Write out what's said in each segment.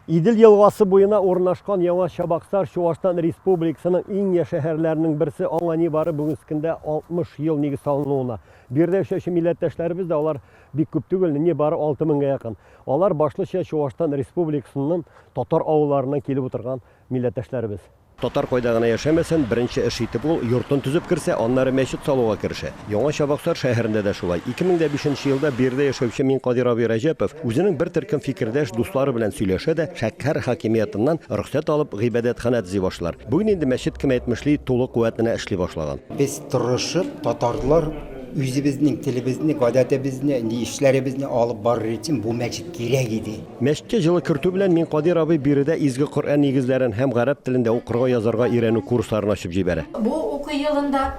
Идел елгасы буена урнашкан Яңа Чабаксар Чуашстан Республикасының иң я шәһәрләренең берсе, аңа нибары бүгенге көндә 60 ел нигез салынуына. Биредә яшәүче милләттәшләребез дә алар бик күп түгел, нибары 6000-гә якын. Алар башлыча Чуашстан Республикасының татар авылларыннан килеп утырган милләттәшләребез. Татар кайда гына яшәмәсен, беренче эш итеп ул йортын төзеп керсә, аннары мәчет салуга керешә. Яңа Чабаксар шәһәрендә дә шулай. 2005 нче елда биредә яшәүче Минкадир абый Рәҗәпов үзенең бер төркем фикердәш дуслары белән сөйләшә дә, шәкхәр хакимиятыннан рөхсәт алып, гыйбадәтханә төзи башлар. Бүген инде мәчет кем әйтмешли, тулы куәтенә эшли башлаган. Без тырышып, татарлар үзебезнең телебезне, гадәтебезне, ни эшләребезне алып барыр өчен бу мәчет кирәк иде. Мәчеткә җылы кертү белән мин Кадир абый биредә Изге Коръән нигезләрен һәм гарәп телендә укырга, язарга өйрәнү курсларын ачып җибәрә. Бу уку елында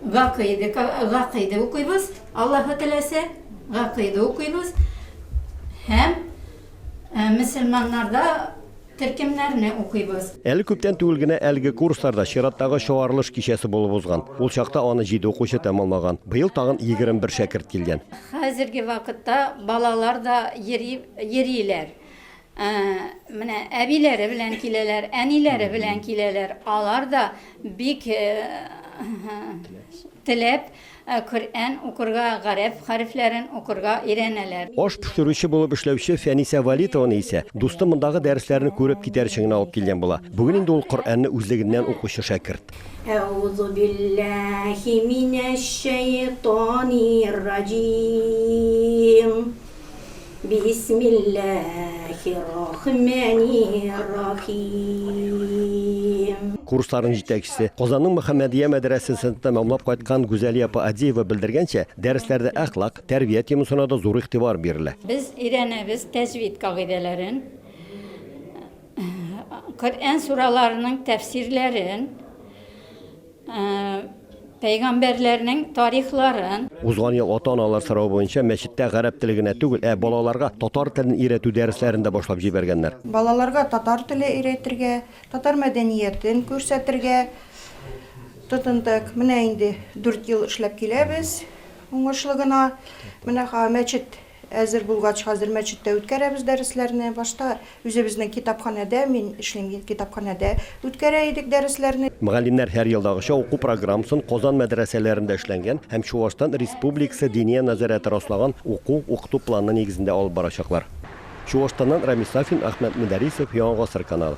гакыйде, гакыйде укыйбыз, Аллаһы теләсә, гакыйде укыйбыз һәм мөселманнарда Төркемнәрне укыйбыз. Әле күптән түгел генә әлеге курсларда чираттагы чыгарылыш кичәсе булып узган. Ул чакта аны җиде укучы тәмамлаган. Быел тагын егерме бер шәкерт килгән. Хәзерге вакытта балалар да йөри, йөриләр. Менә әбиләре белән киләләр, әниләре белән киләләр. Алар да бик теләп Ә Коръән укырга, гарәп хәрефләрен укырга өйрәнәләр. Аш пешерүче булып эшләүче Фәнисә Вәлитованы исә дусты мондагы дәресләрне күреп китәр өчен генә алып килгән була. Бүген инде ул Коръәнне үзлегеннән укучы шәкерт. Әгъузубилләһи минәшшәйтанирраҗиим. Бисмиллаһиррахмәниррахим. Курсларның җитәкчесе, Казанның Мөхәммәдия мәдрәсәсен тәмамлап кайткан Гүзәлия апа Адиева белдергәнчә, дәресләрдә әхлак, тәрбия темасына да зур игътибар бирелә. Без өйрәнәбез тәҗвид кагыйдәләрен, Коръән сураларының тәфсирләрен. пәйгамбәрләрнең тарихларын. Узган ел ата-аналар соравы буенча мәчеттә гарәп теле генә түгел, ә балаларга татар телен өйрәтү дәресләрен дә башлап җибәргәннәр. Балаларга татар теле өйрәтергә, татар мәдәниятен күрсәтергә тотындык. Менә инде дүрт ел эшләп киләбез уңышлы гына. Менә мәчет Әзер булгач, хәзер мәчеттә үткәрәбез дәресләрне. Башта үзебезнең китапханәдә, мин эшлим, китапханәдә үткәрә идек дәресләрне. Мөгаллимнәр һәр елдагыча уку программасын Казан мәдрәсәләрендә эшләнгән һәм Чуашстан Республикасы Диния нәзарәте раслаган уку, укыту планы нигезендә алып барачаклар. Чуашстаннан Рамис Сафин, Әхмәт Мөдәрисов, Яңа гасыр каналы.